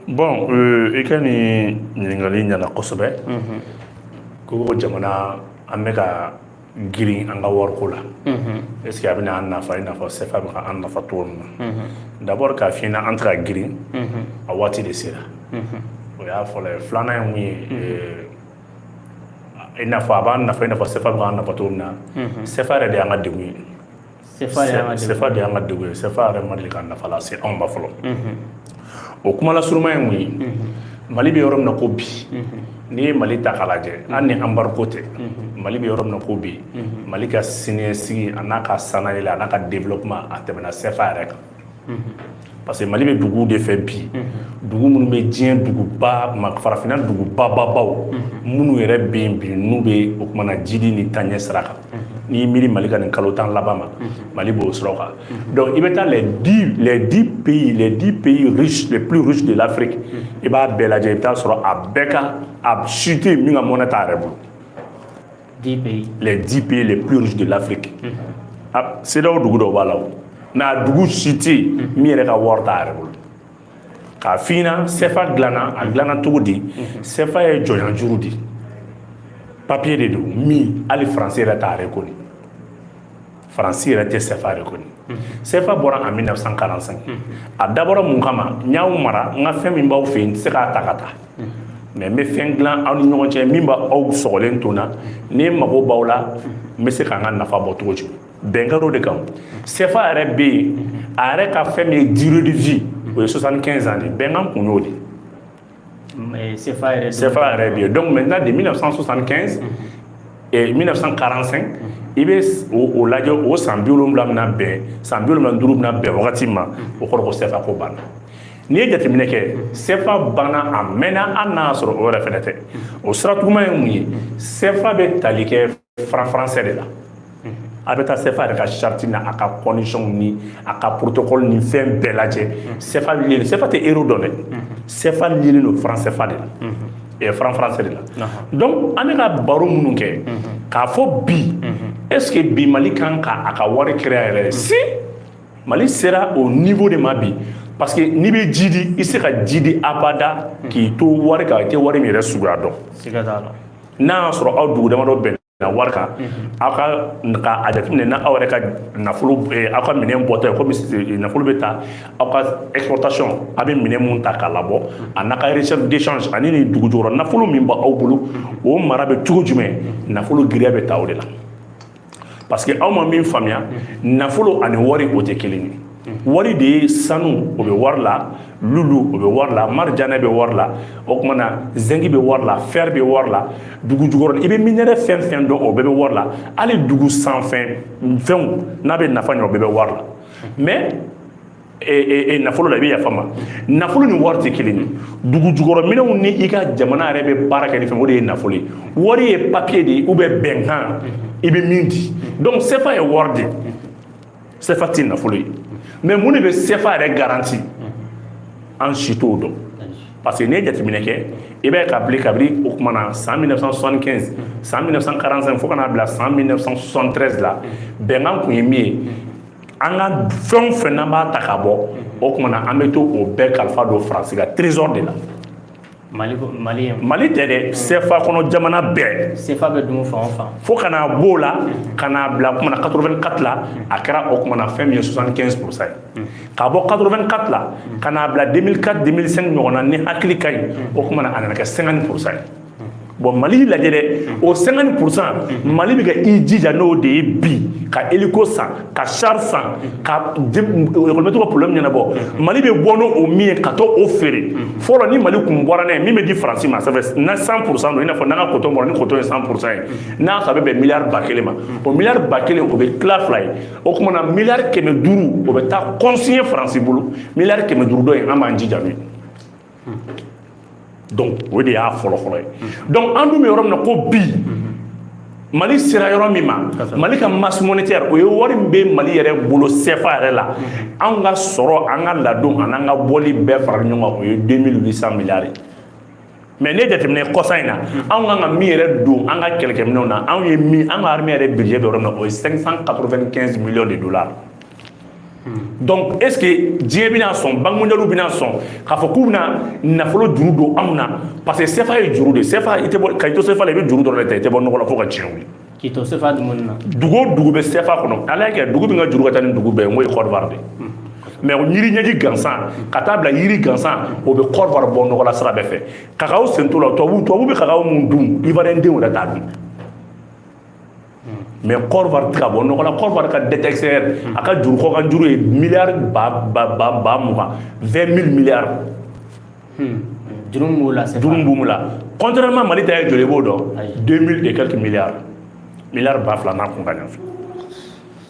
bɔn euh, i ka nin ɲininkali ɲana kosɛbɛ mhm. ko jamana an bɛ ka girin an ka wariko la mhm. est ce que a bɛna an nafa i n'a fɔ sefa bɛ ka an nafa cogo min na mhm. d'abord k'a f'i ɲɛna an tɛ ka girin a waati de sera o y'a fɔlɔ ye filanan ye mun ye euh, i n'a fɔ a b'an nafa i n'a fɔ sefa bɛ k'an nafa cogo min na sefa yɛrɛ de y'an ka degun ye Sefa de y'an ka degun ye. Sefa yɛrɛ ma deli ka nafa lase anw ma fɔlɔ o kuma lasuruma ye mun ye Mali bɛ yɔrɔ min na ko bi n'i ye Mali ta k'a lajɛ hali ni embargo tɛ Mali bɛ yɔrɔ min na ko bi Mali ka siniɲɛsigi a n'a ka sanayɛlɛ a n'a ka développement a tɛmɛna Sefa yɛrɛ kan parce que mali bɛ duguw de fɛ bi dugu minnu bɛ diɲɛ duguba ma farafinna dugubababaw minnu yɛrɛ bɛ yen bi n'u bɛ o kumana jidi ni taɲɛ sira kan n'i y'i miiri mali ka nin kalo tan laban ma mali b'o sira kan donc i bɛ taa les dix les dix pays les dix pays riches les plus riches de l'afrique i b'a bɛɛ lajɛ i bɛ taa sɔrɔ a bɛɛ ka a si tɛ min ka monnaie t'a yɛrɛ bolo 10 pays. les 10 pays les plus riches de l'Afrique a CEDEAO dugu dɔw b'a la o mais a dugu si tɛ yen min yɛrɛ ka wari t'a yɛrɛ bolo k'a f'i ɲɛna CFA dilanna a dilanna cogo di CFA ye jɔnya juru de ye papiye de don min hali faransi yɛrɛ t'a reconnu faransi yɛrɛ tɛ sɛfa reconnu sɛfa bɔra en 1945 a dabɔra mun kama n y'aw mara n ka fɛn min b'aw fɛ yen n tɛ se k'a ta ka taa mais n bɛ fɛn dilan aw ni ɲɔgɔn cɛ min b'aw sɔgɔlen to n na ni mago b'aw la n bɛ se ka n ka nafa bɔ cogo jumɛn bɛnkan dɔ de kan sɛfa yɛrɛ bɛ yen a yɛrɛ ka fɛn min ye durée de vie o ye 75 ans de ye bɛnkan kun y'o de ye Sefa yɛrɛ sefa yɛrɛ bɛ yen donc maintenant de 1975 et 1945 i bɛ o lajɛ o san biwolonfila min bɛn san biwolonfila ni duuru bɛna bɛn wagati ma o kɔrɔ ko sefa ko banna n'i ye jateminɛ kɛ sefa banna a mɛnna hali n'a y'a sɔrɔ o yɛrɛ fɛnɛ tɛ o sira tuguma ye mun ye sefa bɛ tali kɛ franc français de la a bɛ taa sefa yɛrɛ ka sarati na a ka conditions ni a ka protocole ni fɛn bɛɛ lajɛ sefa sefa tɛ euro dɔn dɛ sefa liélen don franc sefa de la franc français de la donc an bɛ ka baro minnu kɛ k'a fɔ bi est ce que bi mali kan ka a ka wari créer yɛrɛ si mali sera o niveau de ma bi parce que n'i bɛ jiidi i se ka jiidi abada k'i to wari kan i tɛ wari min yɛrɛ suguya dɔn n'a y'a sɔrɔ aw dugu damadɔ bɛnna wari kan aw ka a jateminɛ n'aw yɛrɛ ka nafolo aw ka minɛn bɔta ye komi nafolo bɛ ta aw ka exportation a bɛ minɛn mun ta k'a labɔ a n'a ka réserve de change ani nin dugu jukɔrɔ nafolo min bɛ aw bolo o mara bɛ cogo jumɛn nafolo giriya bɛ ta o de la parce que aw ma min faamuya nafolo ani wari o tɛ kelen ye wari de ye sanu o bɛ wari la lulu o bɛ wari la marijane bɛ wari la o kuma na zengi bɛ wari la fɛri bɛ wari la dugu jukɔrɔ i bɛ minerai fɛn fɛn dɔn o bɛɛ bɛ wari la hali dugu sanfɛ fɛnw n'a bɛ nafa ɲɛ o bɛɛ bɛ wari la mais nafolo la i bɛ yafa ma nafolo ni wari tɛ kelen ye dugu jukɔrɔ minɛnw ni i ka jamana yɛrɛ bɛ baara kɛ ni fɛn o de ye nafolo ye wari ye papiye de ye ou bien bɛnkan i bɛ min di donc sefa ye wari de ye sefa tɛ nafolo ye mais mun de bɛ sefa yɛrɛ garanti an si t'o dɔn parce que n'i ye jateminɛ kɛ i b'a ye k'a bila kabini o kuma na san 1975 san 1945 fo ka n'a bila san 1973 la bɛnkan kun ye min ye an ka fɛn o fɛn n'an b'a ta ka bɔ o kuma na an bɛ taa o bɛɛ kalifa don faransi ka trésor de la mali mali mali tɛ dɛ sefa kɔnɔ jamana bɛɛ sefa bɛ dun fan o fan fo ka n'a b'o la ka n'a bila kuma na 84 la a kɛra o kuma na fɛn min ye 75 pourcent ye ka bɔ 84 la ka n'a bila 2004 2005 ɲɔgɔn na ni hakili ka ɲi o kuma na a nana kɛ 50 pourcent ye bon mali lajɛ dɛ o 50 pourcent mali bɛ ka i jija n'o de ye bi ka hélico san ka char san ka ekɔli mɛtiriw ka problème ɲɛnabɔ mali bɛ bɔ n'o min ye ka t'o feere fɔlɔ ni mali kun bɔra n'a ye min bɛ di faransi ma ça fait na 100 pourcent don i n'a fɔ n'an ka coton bɔra ni coton ye 100 pourcent ye n'a sɔrɔ a bɛ bɛn miliyari ba kelen ma o miliyari ba kelen o bɛ tila fila ye o kuma na miliyari kɛmɛ duuru o bɛ taa consigner faransi bolo miliyari kɛmɛ duuru tɔ in an b'an jija n'o ye donc o de y'a fɔlɔfɔlɔ ye donc an dun bɛ yɔrɔ min na ko bi mali sera yɔrɔ min ma mali ka masse monétaire o ye wari min bɛ mali yɛrɛ bolo CFA yɛrɛ la anw ka sɔrɔ an ka ladon ani an ka bɔli bɛɛ fara ɲɔgɔn kan o ye 2800 milliards ye mais ne jateminɛ kɔsa in na anw kan ka min yɛrɛ don an ka kɛlɛkɛminɛnw na anw ye min an ka armée yɛrɛ budget bɛ yɔrɔ min na o ye 595 millions de dollars donc est ce que diɲɛ bɛna sɔn banque mondiale bɛna sɔn k'a fɔ k'u bɛna nafolo juru don anw na parce que sefa ye juru de sefa i tɛ bɔ ka i to sefa la i bɛ juru dɔrɔn de ta i tɛ bɔ nɔgɔ la fo ka diɲɛ wuli k'i to sefa dumuni na dugu o dugu bɛ sefa kɔnɔ ala y'a kɛ dugu min ka juru ka ca ni dugu bɛɛ ye n'o ye kɔrɔwari de mais yiri ɲɛji gansan ka taa bila yiri gansan o bɛ kɔrɔwari bɔ nɔgɔ la sira bɛɛ fɛ kakaw sen t'o la tubabu tubabu bɛ kakaw min dun ivoirien denw yɛrɛ t'a dun mais kɔrɔwari tɛ ka bɔ nɔgɔ la kɔrɔwari ka dette extérieure a ka juru kɔkan juru ye miliyari ba ba ba ba mugan vingt mille milliards juru min b'o la juru min b'o la contrairement mali ta ye joli i b'o dɔn deux mille et quelques milliards miliyari ba fila n'a kunkanfɛn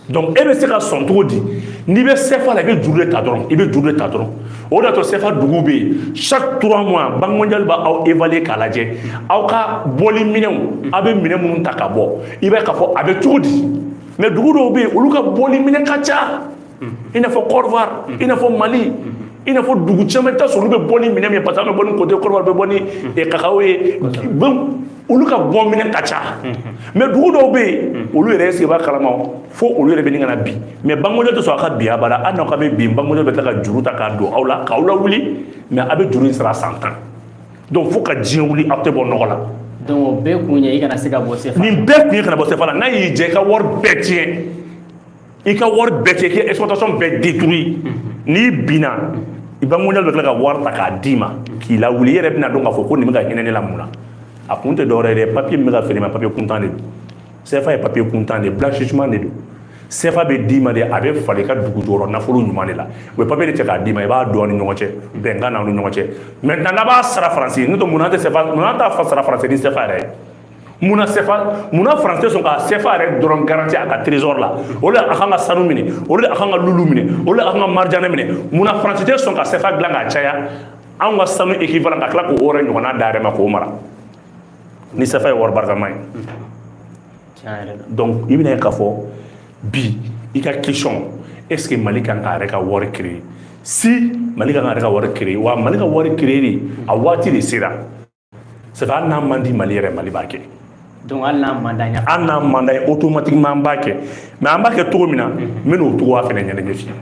donc e bɛ se ka sɔn cogo di n'i bɛ sefa la i bɛ juru de ta dɔrɔn i bɛ juru de ta dɔrɔn o de y'a to sefa dugu bɛ yen chaque trois mois banque mondiale b'aw évaluer k'a lajɛ aw ka bɔli minɛnw aw bɛ minɛn minnu ta ka bɔ i b'a ye k'a fɔ a bɛ cogo di mais dugu dɔw bɛ yen olu ka bɔli minɛn ka ca i n'a fɔ Côte d'Ivoire i n'a fɔ Mali i n'a fɔ dugu caman i bɛ t'a sɔrɔ olu bɛ bɔ ni minɛn min ye parce que an bɛ bɔ ni cote Côte d'Ivoire bɛ bɔ ni kakao ye olu ka bɔ minɛn ka ca mais dugu dɔw bɛ yen olu yɛrɛ sigi b'a kalama fo olu yɛrɛ bɛ ɲini ka na bin mais banque mondiale tɛ sɔn a ka bin abada hali n'aw ka bɛ bin banque mondiale bɛ tila ka juru ta k'a don aw la k'aw lawuli mais aw bɛ juru in sara san tan donc fo ka diɲɛ wuli aw tɛ bɔ nɔgɔ la donc o bɛɛ kun ye i kana se ka bɔ sefa nin bɛɛ kun ye kana bɔ sefa la n'a y'i jɛ i ka wari bɛɛ tiɲɛ i ka wari bɛɛ tiɲɛ k'i ka exploitation bɛɛ détruit n'i binna banque mondiale bɛ tila ka wari ta k'a d'i ma k'i lawuli i yɛrɛ bɛna dɔn k'a fɔ ko nin bɛ ka hinɛ ne la mun na a kun tɛ dɔwɛrɛ ye dɛ papier min bɛ ka feere ma papier kuntan de don CFA ye papier kuntan de ye blanchissement de don CFA bɛ d'i ma de a bɛ falen i ka dugu jukɔrɔ nafolo ɲuman de la u bɛ papier de cɛ k'a d'i ma i b'a dɔn ni ɲɔgɔn cɛ bɛnkan na aw ni ɲɔgɔn cɛ maintenant n'a b'a sara faransi n'o tɛ mun na an tɛ CFA mun na an t'a sara faransi ni CFA yɛrɛ ye mun na sefa mun na faransi tɛ sɔn ka sefa yɛrɛ dɔrɔn garanti a ka trésor la o de a kan ka sanu minɛ o de a kan ka lulu minɛ o de a kan ka marijane minɛ mun na faransi tɛ sɔn ka sefa dilan k'a caya anw ka sanu équivalent ka tila k'o yɛrɛ ɲɔgɔnna d'a yɛrɛ ma k'o mara ni sefa ye wari barikama ye donc i bɛna ye k'a fɔ bi i ka question est ce que mali kan k'a yɛrɛ ka wari créer si mali kan k'a yɛrɛ ka wari créer wa mali ka wari créer de a waati de sera C'est hali n'a man di Mali yɛrɛ Mali b'a kɛ donc hali n'a man d'an ye hali n'a man d'an ye automatiquement an b'a kɛ mais an b'a kɛ cogo min na n bɛn'o cogoya fɛnɛ ɲɛnajɛ f'i ye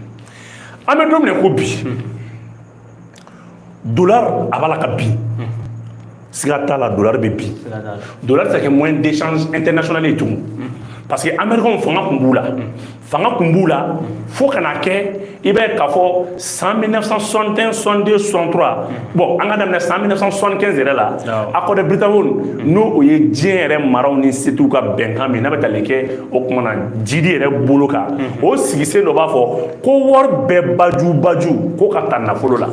an bɛ don min na ko bi dollar a b'a la ka bin siga t'a la dollar bɛ bin dollar tɛ se ka kɛ moyen d'échange international ye tugun parce que américains fanga tun b'u la fanga tun b'u la fo ka na kɛ i b'a ye k'a fɔ san 1961 62 63 bon an ka daminɛ san 1975 yɛrɛ la accord de Bretton n'o o ye diɲɛ yɛrɛ maraw ni setigiw ka bɛnkan min n'a bɛ tali kɛ o tuma na jidi yɛrɛ bolo kan o sigisen dɔ b'a fɔ ko wari bɛɛ baju baju ko ka ta nafolo la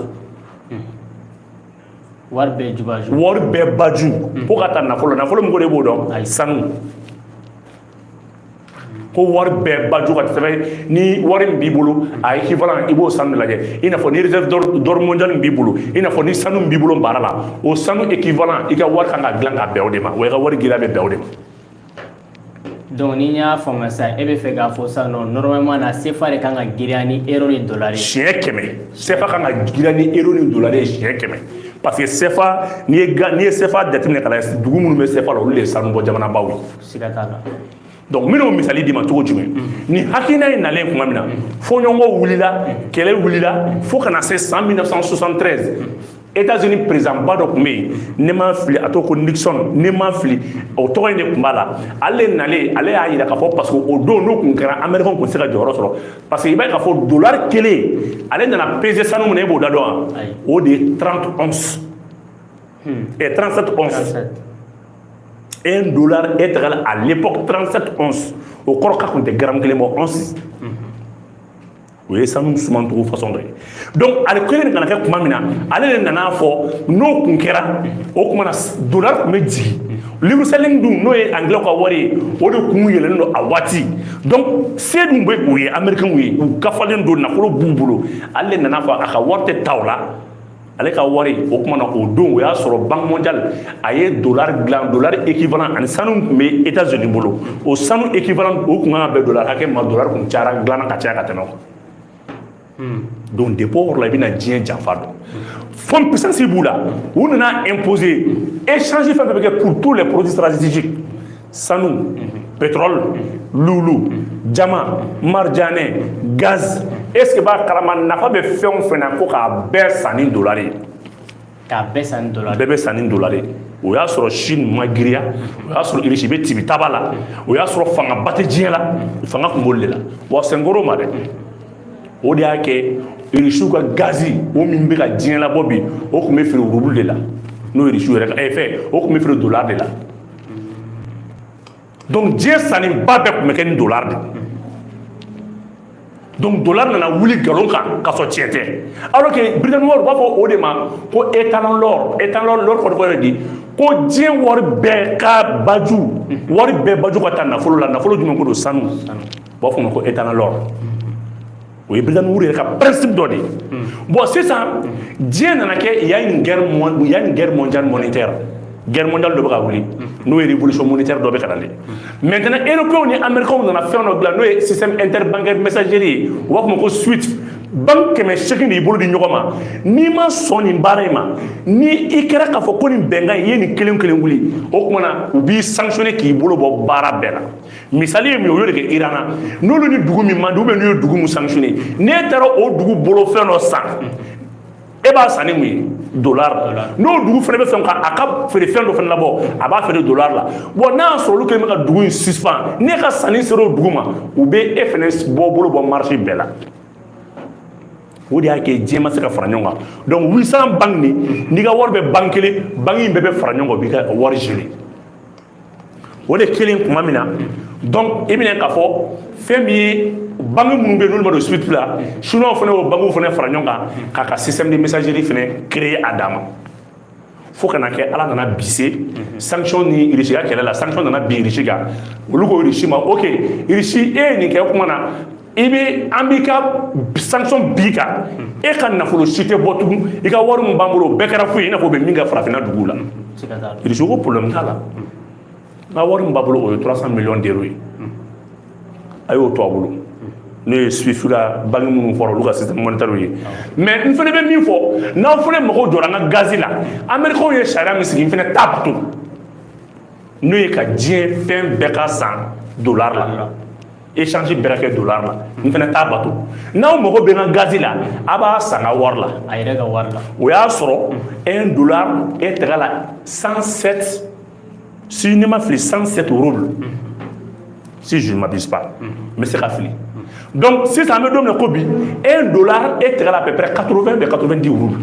wari bɛɛ jubaju wari bɛɛ baju ko ka ta nafolo nafolo min ko de b'o dɔn sanu ko wari bɛɛ baju ka sɛmɛ ni wari min b'i bolo a équivalent i b'o sanu lajɛ i n'a fɔ ni réserve d'or mondial min b'i bolo i n'a fɔ ni sanu min b'i bolo baara la o sanu équivalent i ka wari kan ka dilan ka bɛn o de ma wa i ka wari giriya bɛ bɛn o de ma donc ni n y'a faamuya sisan e bɛ fɛ k'a fɔ sisan non normalement na sefa de kan ka giriya ni euro ni dollar ye siɲɛ kɛmɛ sefa kan ka giriya ni euro ni dollar ye siɲɛ kɛmɛ parce que sefa n'i ye n'i ye sefa jateminɛ ka lajɛ dugu minnu bɛ sefa la olu de ye sanubɔ jamanabaw ye siga t'a la donc n bɛn'o misali d'i ma cogo jumɛn nin hakilina in nalen tuma min na fɔɲɔgɔnkɔ wulila kɛlɛ wulila fo ka na se san 1973 États-Unis président ba dɔ tun bɛ yen ne ma fili a tɔgɔ ko Nixon ne ma fili o tɔgɔ in de tun b'a la ale nalen ale y'a jira k'a fɔ parce que o don n'o tun kɛra Américain tun tɛ se ka jɔyɔrɔ sɔrɔ parce que i b'a ye k'a fɔ dollar kelen ale nana peser sanu min na e b'o da dɔn wa o de ye 30 onces et 37 onces. un dollar est égal à l'époque 37 onces o kɔrɔ k'a kun tɛ gramme kelen bɔ once o ye sanu suman cogo façon dɔ ye donc ale kɛlen ka na kɛ kuma min na ale de nana fɔ n'o kun kɛra o kuma na dollar kun bɛ jigin livre sterling dun n'o ye anglais ka wari ye o de kun yɛlɛlen don a waati donc se dun bɛ o ye américain ye u gafalen don nafolo b'u bolo ale de nana fɔ a ka wari tɛ ta o la ale ka wari o kuma na o don o y'a sɔrɔ banque mondiale a ye dollar dilan dollar équivalent ani sanu tun bɛ États-Unis bolo o sanu équivalent o tun kan ka bɛn dollar hakɛ ma dollar tun cayara dilanna ka caya ka tɛmɛ o kan donc depuis o yɔrɔ la i bɛna diɲɛ janfa dɔn fond puissance b'u la u nana imposer échange fɛn fɛn bɛ kɛ pour tous les produits stratégiques sanu pétrole lulu diamant marijane gaz est-ce que i b'a kalama nafa bɛ fɛn o fɛn na ko k'a bɛɛ san ni dollar ye k'a bɛɛ san ni dollar bɛɛ bɛ san ni dollar ye o y'a sɔrɔ Chine ma giriya o y'a sɔrɔ irisi bɛ tibi taba la o y'a sɔrɔ fangaba tɛ diɲɛ la fanga tun b'olu de la wa senkoro ma dɛ o de y'a kɛ irisiw ka gazi o min bɛ ka diɲɛ labɔ bi o tun bɛ feere rouble de la n'o irisiw yɛrɛ ka ɛ fɛn o tun bɛ feere dollar de la donc diɲɛ sanni ba bɛɛ tun bɛ kɛ ni dollar de donc dollar nana wuli nkalon kan ka sɔrɔ tiɲɛ tɛ alors que Biritaninw b'a fɔ o de ma ko étalon l'or étalon l'or kɔni kɔrɔ di ko diɲɛ wari bɛɛ ka baju wari bɛɛ baju ka taa nafolo la nafolo jumɛn ko don sanu u b'a fɔ o ma ko étalon l'or o ye Biritaninw yɛrɛ ka principe dɔ de ye bon sisan diɲɛ nana kɛ il y a une guerre mondiale monétaire guerre mondiale dɔ bɛ ka wuli n'o ye révolution monétaire dɔ bɛ ka na de maintenant européens ni américains nana fɛn dɔ dilan n'o ye système interbancaire messagerie ye u b'a fɔ o ma ko SWIFT banque kɛmɛ seegin de y'i bolo di ɲɔgɔn ma n'i ma sɔn nin baara in ma ni i kɛra k'a fɔ ko nin bɛnkan in i ye nin kelen kelen wuli o tuma na u b'i sanctionner k'i bolo bɔ baara bɛɛ la misali ye min ye u y'o de kɛ Iran na n'olu ni dugu min man di ou bien n'u ye dugu min sanctionner n'e taara o dugu bolo fɛn dɔ san e b'a san ni mun ye dollar n'o dugu fana bɛ fɛn k'a ka feere fɛn dɔ fana labɔ a b'a feere dollar la bon n'a y'a sɔrɔ olu kɛlen bɛ ka dugu in suspendre n'e ka sanni sera o dugu ma u bɛ e fana bɔ bolo bɔ marché bɛɛ la o de y'a kɛ diɲɛ ma se ka fara ɲɔgɔn kan donc 800 banque nin n'i ka wari bɛ banque kelen banque in bɛɛ bɛ fara ɲɔgɔn kan u b'i ka wari gérer o de kɛlen tuma min na donc i bɛna k'a fɔ fɛn min ye banque minnu bɛ yen n'olu ma don swift la chinois fana o banques fana fara ɲɔgɔn kan k'a ka système de messagerie fana créer a dama fo kana kɛ ala nana bise sanction ni irisi ka kɛlɛ la sanction nana bin irisi kan olu ko irisi ma ok irisi e ye nin kɛ kuma na i bɛ an b'i ka sanction bin i kan e ka nafolo si tɛ bɔ tugun i ka wari min b'an bolo o bɛɛ kɛra foyi ye i n'a fɔ o bɛ min kɛ farafinna duguw la irisi ko problème t'a la n ka wari min b'a bolo o ye 300 millions d'euros ye a y'o to a bolo n'o ye swift ka banque minnu fɔra olu ka système monétaire ye mais n fana bɛ min fɔ n'aw fana mago jɔra n ka gazi la américains ye sariya min sigi n fana t'a bato n'o ye ka diɲɛ fɛn bɛɛ ka san dollar la échange bɛɛ ka kɛ dollar la n fana t'a bato n'aw mago bɛ n ka gazi la a b'a san n ka wari la a yɛrɛ ka wari la o y'a sɔrɔ un dollar est égal à 107 si ne ma fili 107 roubles si je ne m'abuse pas n bɛ se ka fili donc sisan an bɛ don min na ko bi un dollar est égal à à peu près 80 bɛ 90 roubles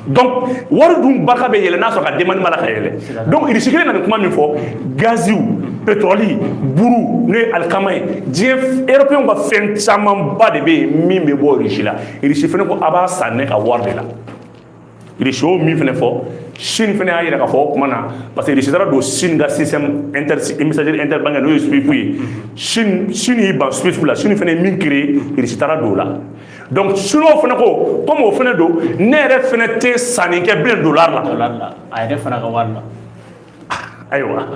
donc wari dun barika bɛ yɛlɛ n'a sɔrɔ ka demande b'a la ka yɛlɛn donc irisi kelen nana kuma min fɔ gaziw pétrole buru n'o ye alikama ye diɲɛ européen ka fɛn camanba de bɛ yen min bɛ bɔ irisi la irisi fana ko a b'a san ne ka wari de la irisi y'o min fana fɔ sini fana y'a yira k'a fɔ o kuma na parce que irisi taara don sini ka système inter messagerie interbancaire n'o ye swift ye sini sini y'i ban swift la sini fana ye min créer irisi taara don o la donc chinois fana ko comme o fana don ne yɛrɛ fana tɛ sanni kɛ bilen dollar la dollar la a yɛrɛ fana ka wari la ayiwa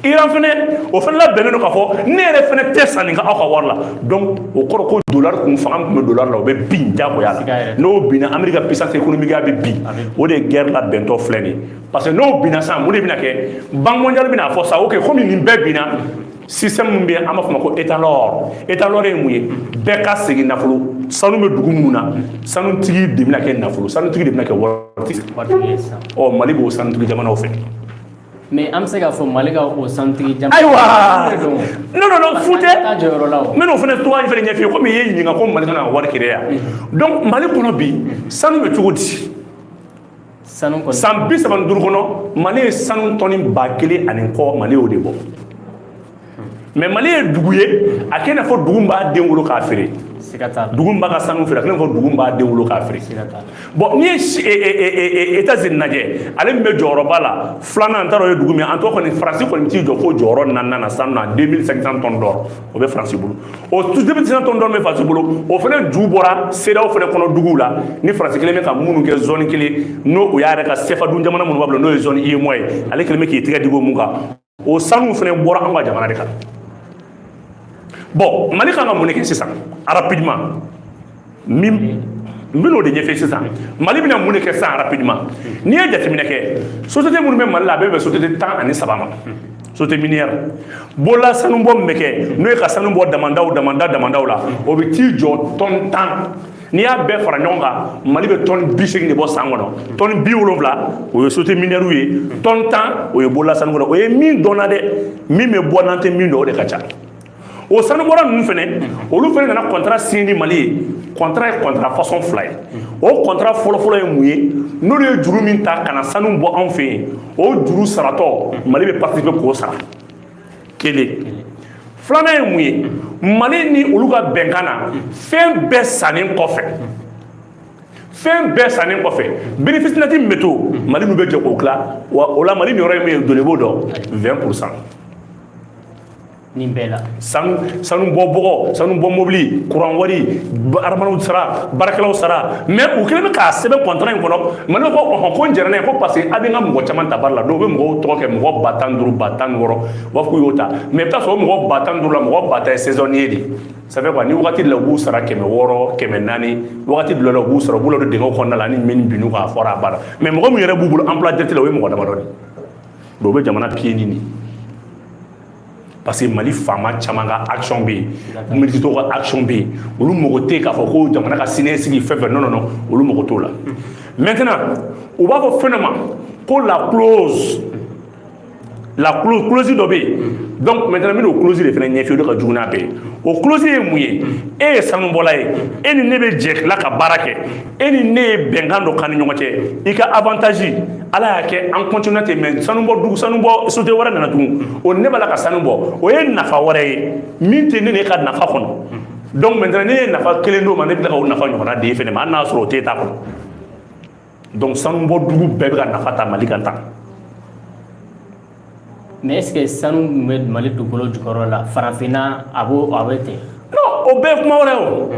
iran fana o fana labɛnnen don k'a fɔ ne yɛrɛ fana tɛ sanni kɛ aw ka wari la donc o kɔrɔ ko dollar kun fanga min tun bɛ dollar la o bɛ bin jagoya la n'o binna amérique ka puissance économique a bɛ bin o de ye guerre labɛntɔ filɛ nin ye parce que n'o binna sisan mun de bɛna kɛ banque mondiale bɛna fɔ sa ok komi nin bɛɛ binna système min bɛ an b'a fɔ ma ko étalon or étalon or ye mun ye bɛɛ ka segin nafolo sanu bɛ dugu minnu na sanutigi de bɛna kɛ nafolo sanutigi de bɛna kɛ waritigi ɔ mali b'o sanutigi jamanaw fɛ mais an bɛ se k'a fɔ mali ka o sanutigi jamana ayiwa non non non fu tɛ n bɛn'o fana tɔgɔ in fana ɲɛf'i ye komi i ye ɲininka ko mali kana wari créer yan donc mali kɔnɔ bi sanu bɛ cogo di san bi saba ni duuru kɔnɔ mali ye sanu tɔni ba kelen ani kɔ mali y'o de bɔ mais mali ye dugu ye a kɛlen i n'a fɔ dugu min b'a den wolo k'a feere dugu min b'a ka sanu feere a kɛlen i n'a fɔ dugu min b'a den wolo k'a feere bon n'i ye etazini lajɛ ale min bɛ jɔyɔrɔba la filanan n t'a dɔn o ye dugu min an tɔgɔ kɔni faransi kɔni t'i jɔ fo jɔyɔrɔ naaninan na sanu na 2500 tɔn dɔrɔn o bɛ faransi bolo o deux mille cinq cents tonnes d'or bɛ faransi bolo o fana ju bɔra cedeao fana kɔnɔ duguw la ni faransi kɛlen bɛ ka minnu kɛ zɔni kelen n'o o y'a yɛrɛ ka sefa dun jamana minnu b'a bolo n'o ye zɔni uemoa ye ale kelen bɛ k'i tɛgɛ digi o mun kan o sanu fana bɔra an ka jamana de kan bɔn mali kan ka mun de kɛ sisan rapidement min n bɛn'o de ɲɛfɛ sisan mali bɛna mun de kɛ sisan rapidement n'i ye jateminɛ kɛ société minnu bɛ mali la a bɛɛ bɛ société tan ani saba ma société minière bolola sanubɔ min bɛ kɛ n'o ye ka sanu bɔ damandaw damanda damandaw la o bɛ t'i jɔ tɔn tan n'i y'a bɛɛ fara ɲɔgɔn kan mali bɛ tɔni bi segin de bɔ san kɔnɔ tɔni bi wolonwula o ye société minière ye tɔni tan o ye bolola sanu o ye min dɔnna dɛ min bɛ bɔ n'an tɛ min dɔn o de ka ca o sanubɔla ninnu fɛnɛ olu fɛnɛ nana kɔntara siɲɛ ni mali ye kɔntara ye kɔntara fasɔn fila ye o kɔntara fɔlɔfɔlɔ ye mun ye n'olu ye juru min ta ka na sanu bɔ anw fɛ yen o juru saratɔ mali bɛ patisipe k'o sara kelen filanan ye mun ye mali ni olu ka bɛnkan na fɛn bɛɛ sannen kɔfɛ fɛn bɛɛ sannen kɔfɛ bénéfice neti min bɛ to mali n'u bɛ jɛ k'o tila wa o la mali niyɔrɔ ye min ye diɲɛ b'o dɔn 20 pourcent nin bɛɛ la sanu sanu bɔ bɔgɔ sanu bɔ mobili kuran wari aramanaw sara baarakɛlaw sara mɛ u kɛlen bɛ k'a sɛbɛn kɔntara in kɔnɔ mali ko ɔhɔn ko n jɛra n'a ye ko parce que a bɛ n ka mɔgɔ caman ta baara la dɔw bɛ mɔgɔw tɔgɔ kɛ mɔgɔ ba tan duuru ba tan wɔɔrɔ u b'a fɔ k'u y'o ta mɛ i bɛ taa sɔrɔ mɔgɔ ba tan duuru la mɔgɔ ba tan ye sezɔniye de ça fait quoi ni wagati la u b'u sara kɛmɛ wɔɔrɔ kɛmɛ naani wagati dɔ la u b'u sɔrɔ u b'u ladon dingɛw kɔnɔna la ni min binn'u kan a fɔra a banna mɛ mɔgɔ min yɛrɛ b'u bolo emploi direct la o ye mɔgɔ damadɔ de ye donc u bɛ jamana piye ni nin parce que mali faama caman ka action bɛ yen militaires ka action bɛ yen olu mago tɛ k'a fɔ ko jamana ka siniɲɛsigi fɛn fɛn non non olu mago t'o la maintenant u b'a fɔ fɛn dɔ ma ko la clause la clause clause dɔ bɛ yen donc maintenant n bɛna o clause de fana ɲɛf'i ye o de ka jugu n'a bɛɛ ye o clause ye mun ye e ye sanubɔla ye e ni ne bɛ jɛ tila ka baara kɛ e ni ne ye bɛnkan dɔ k'an ni ɲɔgɔn cɛ i ka avantage ala y'a kɛ an kɔntinɛ ten mɛ sanubɔ dugu sanubɔ société wɛrɛ nana tugun o ne b'a la ka sanu bɔ o ye nafa wɛrɛ ye min tɛ ne n'e ka nafa kɔnɔ donc maintenant ne ye nafa kelen d'o ma ne bɛ tila ka o nafa ɲɔgɔnna d'e fɛnɛ ma hali n'a sɔrɔ o t'e ta kɔnɔ donc sanubɔ dugu bɛɛ bɛ ka nafa ta mali kan tan mais est ce que sanu min bɛ mali dugukolo jukɔrɔ la farafinna a b'o a bɛ ten non o bɛɛ ye kuma wɛrɛ ye o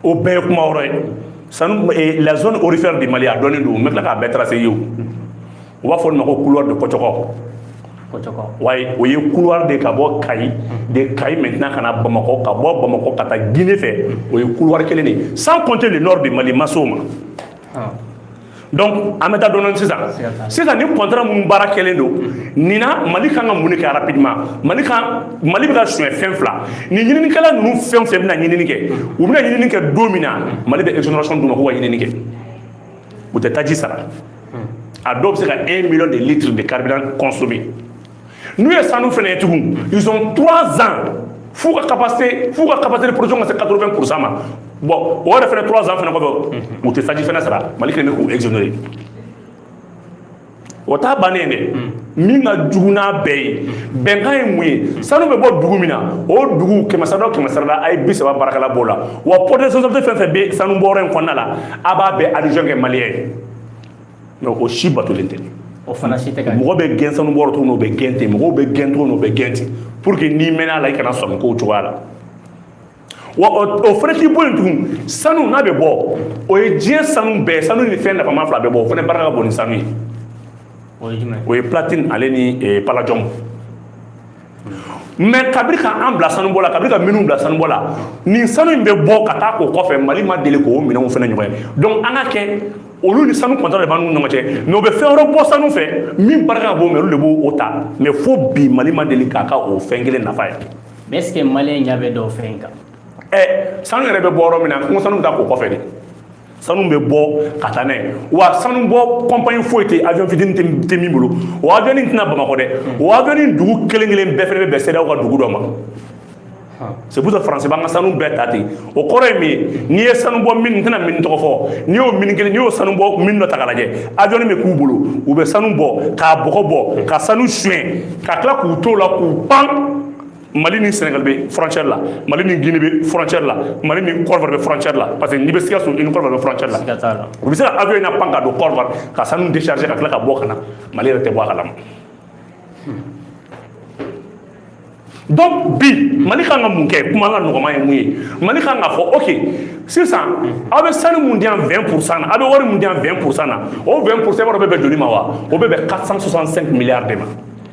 o bɛɛ ye kuma wɛrɛ ye sanu eh, la zone aurifère de mali a dɔnnen don n bɛ tila k'a bɛɛ tarase ye o u b'a fɔ olu ma ko couloir de kɔcɔkɔ wayi o ye couloir de ka bɔ kayi de kayi maintenant ka na bamakɔ ka bɔ bamakɔ ka taa guinée fɛ o ye couloir kelen de sans compter le nord de mali ma s'o ma ah. donc an bɛ taa dɔɔnin sisan sisan ni contrat minnu baara kɛlen don nin na mali kan ka mun de kɛ rapidement mali bɛ ka suɲɛ fɛn fila nin ɲininikɛla ninnu fɛn o fɛn bɛna ɲinini kɛ u bɛna ɲinini kɛ don min na mali bɛ exonération d'u ma k'u ka ɲinini kɛ u tɛ taji sara a dɔw bɛ se ka 1 million de litres de carburant consommer n'u ye sanu fana ye tugun ils ont trois ans f'u ka capacité f'u ka capacité de production ka se 80 pour cent ma bon o yɛrɛ fana trois ans fana kɔfɛ u tɛ taji fana sara mali kelen bɛ k'u exonérer o t'a bannen ye dɛ min ka jugu n'a bɛɛ ye bɛnkan ye mun ye sanu bɛ bɔ dugu min na o dugu kɛmɛsarada o kɛmɛsarada a ye bi saba baarakɛla b'o la wa poste de responsabilité fɛn fɛn bɛ sanu bɔyɔrɔ in kɔnɔna la a b'a bɛɛ adjoint kɛ maliyɛn ye mais o si batolen tɛ o fana si tɛ mɔgɔ bɛ gɛn sanu bɔyɔrɔ tuguni o bɛ gɛn ten mɔgɔw bɛ gɛn tuguni o bɛ gɛn ten pour que n'i mɛnna a la i kana sɔmi kow cogoya la wa o fana t'i bɔ yen tugun sanu n'a bɛ bɔ o ye diɲɛ sanu bɛɛ sanu ni fɛn nafama fila bɛ bɔ o fana barika ka bon ni sanu ye o ye platine ale ni palladium mais kabiri ka an bila sanubɔ la kabiri ka minnu bila sanubɔ la nin sanu in bɛ bɔ ka taa ko kɔfɛ mali ma deli k'o minɛnw fana ɲɔgɔn ye donc an ka kɛ olu ni sanu contrat de b'an n'u ɲɔgɔn cɛ mais u bɛ fɛn wɛrɛ bɔ sanu fɛ min barika ka bon mais olu de b'o ta mais fo bi mali ma deli ka ka o fɛn kelen nafa ye mais est ce que maliyɛn ɲɛ bɛ dɔw fɛn in kan ɛ sanu yɛrɛ bɛ bɔ yɔrɔ min na n ko sanu bɛ taa ko kɔfɛ de sanu bɛ bɔ ka taa n'a ye wa sanu bɔ kɔnpani foyi tɛ avion fitini tɛ min bolo o avion in tɛ na bamakɔ dɛ o avion in dugu kelen kelen bɛɛ fana bɛ bɛn CEDEAO ka dugu dɔ ma c'est pour ça France b'an ka sanu bɛɛ ta ten o kɔrɔ ye min ye n'i ye sanu bɔ mine n tɛna mine tɔgɔ fɔ n'i y'o mine kelen n'i y'o sanu bɔ mine dɔ ta k'a lajɛ avion bɛ k'u bolo u bɛ sanu bɔ k'a bɔgɔ bɔ ka sanu suɲɛ ka tila k'u to o la k'u pan mali ni sénégal bɛ frontière la mali ni guinée bɛ frontière la mali ni côte d'ivoire bɛ frontière la parce que n'i bɛ sikaso i ni côte d'ivoire bɛ frontière la u bɛ se ka avion in napan ka don côte d'ivoire ka sanu décharger ka tila ka bɔ ka na mali yɛrɛ tɛ bɔ a kalama donc bi mali kan ka mun kɛ kuma ka nɔgɔma ye mun ye mali kan ka fɔ ok sisan aw bɛ sanu mun di yan 20 pourcent na aw bɛ wari mun di yan 20 pourcent na o 20 pourcent b'a dɔn bɛ bɛn joli ma wa o bɛ bɛn 465 milliards de ma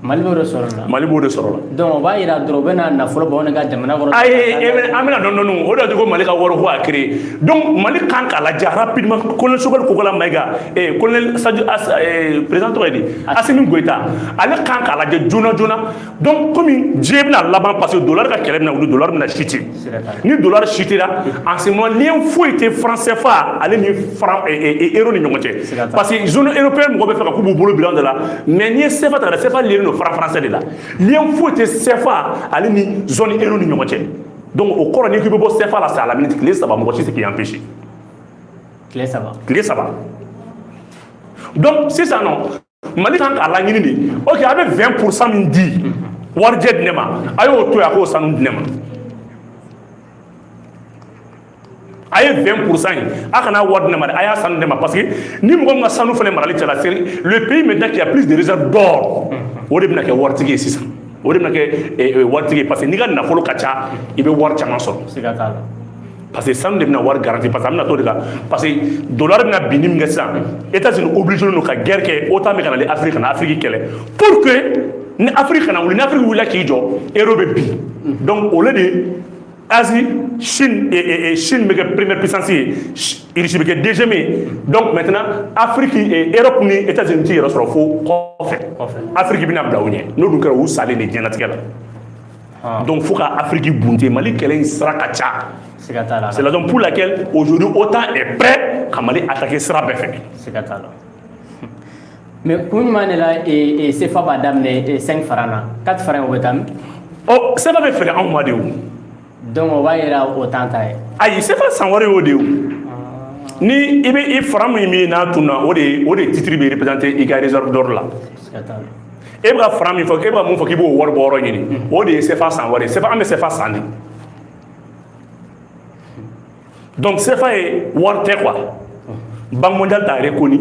Mali b'o de sɔrɔ la Mali b'o de sɔrɔ la donc o b'a yira dɔrɔn u bɛna nafolo bɔ anw ka jamana kɔnɔ ayi e bɛ an bɛ na dɔɔni dɔɔni o de y'a to ko Mali ka wɔri kura créer donc Mali kan k'a lajɛ rapidement colonel Sogɛli Kokala Mayiga ee colonel Sadio As ee président tɔgɔ ye di Asimi Goyita ale kan k'a lajɛ joona joona donc komi diɲɛ bɛna laban parce que dollars ka kɛlɛ bɛna wuli dollars bɛna chuter ni dola chutera en ce moment lien foyi tɛ franc sefa ale ni franc ero ni ɲɔgɔn cɛ parce que zone européen mɔgɔ bɛ fɛ ka k'u b'u bolo bila de la mais n'i ye sefa ta sefa liélen don franc français de la lien foyi tɛ sefa ale ni zone ero ni ɲɔgɔn cɛ donc o kɔrɔ n'i k'i bɛ bɔ sefa la c'est à la minute tile saba mɔgɔ si tɛ k'i empêcher tile saba tile saba donc sisan nɔ mali kan k'a laɲini de ok a bɛ 20 pourcent min di warijɛ di ne ma a y'o to yen a k'o sanu di ne ma a ye 20 pourcent ye a kana wari di ne ma dɛ a y'a sanu di ne ma parce que ni mɔgɔ min ka sanu fana marali cayala c'est le pays maintenant qui a plus de réserve d'or o de bɛna kɛ waritigi ye sisan o de bɛna kɛ waritigi ye parce que n'i ka nafolo ka ca i bɛ wari caman sɔrɔ siga t'a la parce que sanu de bɛna wari garanti parce que an bɛna t'o de kan parce que dollar bɛna binni min kɛ sisan états unis obligé don ka guerre kɛ otan bɛ ka na ni afiriki ka na afiriki kɛlɛ pour que ni afiriki kana wuli ni afiriki wulila k'i jɔ euro bɛ bin donc au lieu de Asie, Chine, et, et, et Chine bɛ kɛ première puissance ye, Russie bɛ kɛ deuxième ye. Donc maintenant, Afrique et Europe ni États-Unis t'i yɛrɛ sɔrɔ fo kɔfɛ. Afrique bɛna bila u ɲɛ. N'o dun kɛra u salen de diɲɛlatigɛ la. donc fo ka afiriki bunte mali kɛlɛ in sira ka ca c'est la raison pour laquelle aujourd'hui otan est prêt ka mali attaquer sira bɛɛ fɛ mais kun jumɛn de la sefa b'a daminɛ 5 franc na 4 franc o bɛ taa min ɔ sefa bɛ feere anw ma de o donc o b'a yira o t'an ta ye ayi sefa san wari y'o de ye ni i bɛ i franc min min n'a tun na o de o de titre bɛ représenter i ka réserve d'or la e bɛ ka franc min fɔ e bɛ ka mun fɔ k'i b'o wari bɔ yɔrɔ ɲini o de ye sefa san wari ye sefa an bɛ sefa san de donc sefa ye wari tɛ quoi banque mondiale t'a reconnu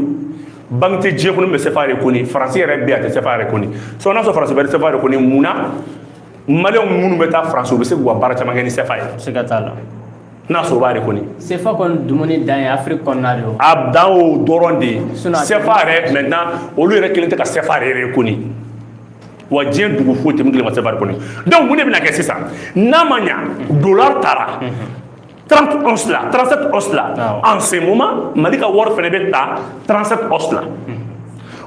banque tɛ diɲɛ kɔnɔ min bɛ sefa reconnu faransi yɛrɛ bɛ yen a tɛ sefa reconnu sinon n'a sɔrɔ faransi bɛ sefa reconnu mun na maliyɛnw minnu bɛ taa faransi u bɛ se k'u ka baara caman kɛ ni sefa ye siga t'a la n'a sɔrɔ o b'a reconnu sefa kɔni dumuni dan ye afiriki kɔnɔna de a dan o dɔrɔn de ye sefa yɛrɛ maintenant olu yɛrɛ kelen tɛ ka sefa yɛrɛ reconnu wa diɲɛ dugu foyi tɛ min kelen ma sefa reconnu donc mun de bɛna kɛ sisan n'a ma ɲa dola taara 30 onces la 37 onces la en ce moment Mali ka wari fɛnɛ bɛ taa 37 onces la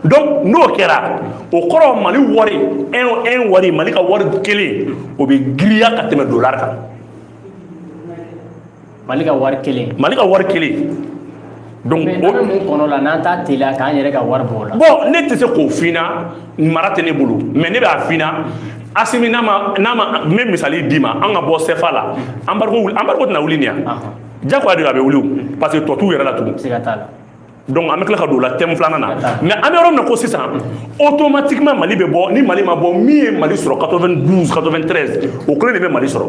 donc n'o kɛra o kɔrɔ Mali wari un un wari Mali ka wari kelen o bɛ giriya ka tɛmɛ dollar kan Mali ka wari kelen Mali ka wari kelen Donc mais an bɛ mun kɔnɔ la n'an t'a teliya k'an yɛrɛ ka wari bɔ o la bon ne tɛ se k'o f'i ɲɛna mara tɛ ne bolo mais ne b'a f'i ɲɛna asimi n'a ma n'a ma n bɛ misali d'i ma an ka bɔ sefa la embargo tɛna wuli nin yan jagoya de don a bɛ wuli o parce que tɔ t'u yɛrɛ la tugun siga t'a la donc an bɛ tila ka don o la thème filanan na mais an bɛ yɔrɔ min na ko sisan automatiquement mali bɛ bɔ ni mali ma bɔ min ye mali sɔrɔ 92 93 o kelen de bɛ mali sɔrɔ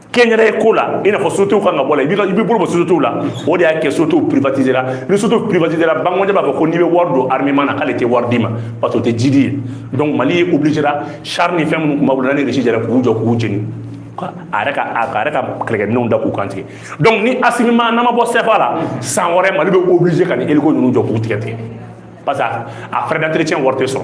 kɛnyɛrɛye ko la i n'a fɔ sociétéw kan ka bɔ la i bɛ bolo bɔ sociétéw la o de y'a kɛ sociétéw privatiser la ni sociétéw privatiser la banque mondiale b'a fɔ ko n'i bɛ wari don armement na k'ale tɛ wari d'i ma parce que o tɛ jidi ye donc mali ye obligé la char ni fɛn minnu tun b'a bolo ni Russie jɛra k'u jɔ k'u jeni a yɛrɛ ka a yɛrɛ ka kɛlɛkɛminɛnw da k'u kantigɛ donc ni asimi ma n'an ma bɔ sɛfa la san wɛrɛ mali bɛ obligé ka nin hélico ninnu jɔ k'u tigɛ tigɛ parce que a frais d'entretien wari tɛ sɔrɔ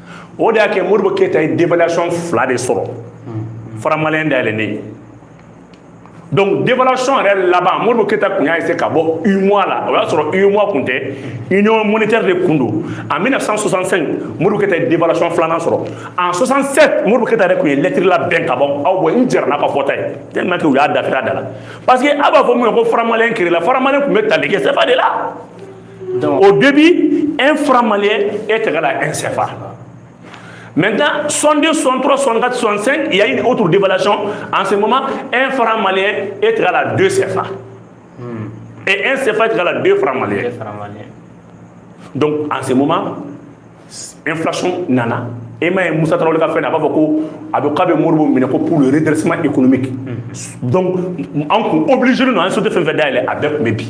o de y'a kɛ modibo keyita ye dévaluation fila de sɔrɔ franc malien dayɛlɛlen ye donc dévaluation yɛrɛ laban modibo keyita kun y'a essayer ka bɔ UEMOA la o y'a sɔrɔ UEMOA kun tɛ union monétaire de kun don en 1965 modibo keyita ye dévaluation filanan sɔrɔ en 67 modibo keyita yɛrɛ kun ye lɛtiri labɛn ka bɔ aw bɔ n jɛra n'a ka fɔta ye tellement que u y'a dafiri a da la parce que a b'a fɔ mun ye ko franc malien créer la franc malien kun bɛ tali kɛ CFA de la o de bi e fura mali e tɛgɛ la e sɛfa mɛ taa sonden sɔn dɔrɔn sɔn ka sɔnsɛn ya ye o tun debalacɔn an se mama e fara mali e tɛgɛ la don sɛfa e e sɛfa tɛgɛ la don fara mali dɔnku an se mama e filac nana e ma ye musa tarawele ka fɛn a b'a fɔ ko a bɛ k'a bɛ moribo minɛ ko pur yɛrɛdresi e kunun bɛ dɔnku an kun obiliz ninnu an sotu fɛn fɛn da yɛlɛ a bɛɛ tun bɛ bi